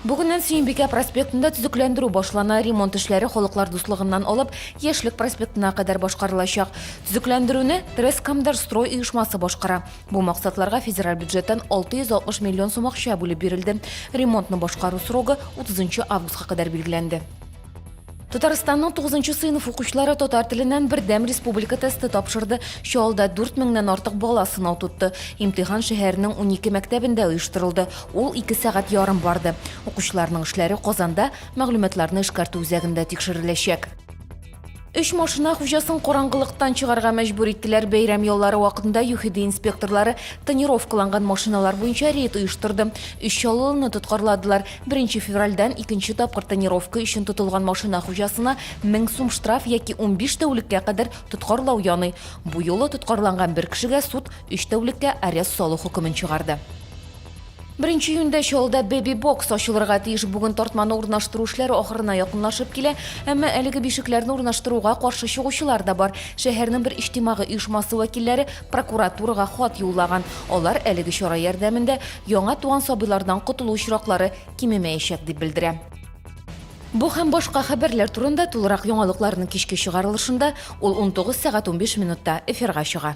Бүгеннән Сөембикә проспектында төзекләндерү башлана. Ремонт эшләре халыклар дуслыгыннан алып, Яшьлек проспектына кадәр башкарылачак. Төзекләндерүне Трескомдорстрой оешмасы башкара. Бу максатларга федераль бюджеттан 660 миллион сум акча бүлеп бирелде. Ремонтны башкару срогы 30 августка кадәр билгеләнде. Татарстанның 9 сыйныф укучылары татар теленнән бердәм республика тесты тапшырды. Чалда 4 меңнән артык бала сынау тотты. Имтихан шәһәрнең 12 мәктәбендә оештырылды. Ул 2 сәгать ярым барды. Укучыларның эшләре Казанда мәгълүматларны эшкәртү үзәгендә тикшереләчәк. Өч машина хуҗасын караңгылыктан чыгарга мәҗбүр иттеләр. Бәйрәм яллары вакытында ЮХИДИ инспекторлары тонировкаланган машиналар буенча рейд оештырды. Өч чаллылыны тоткарладылар. Беренче февральдән икенче тапкыр тонировка өчен тотылган машина хуҗасына мең сум штраф яки унбиш тәүлеккә кадәр тоткарлау яный. Бу юлы тоткарланган бер кешегә суд өч тәүлеккә арест салу хөкемен чыгарды. Беренче июньдә Чаллыда бэби-бокс ачылырга тиеш. Бүген тартманы урнаштыру эшләре ахырына якынлашып килә. Әмма әлеге бишекләрне урнаштыруга каршы чыгучылар да бар. Шәһәрнең бер иҗтимагый оешмасы вәкилләре прокуратурага хат юллаган. Алар әлеге чара ярдәмендә яңа туган сабыйлардан котылу очраклары кимемәячәк дип белдерә. Бу һәм башка хәбәрләр турында тулырак яңалыкларның кичке чыгарылышында, ул 19 сәгать 15 минутта эфирга чыга.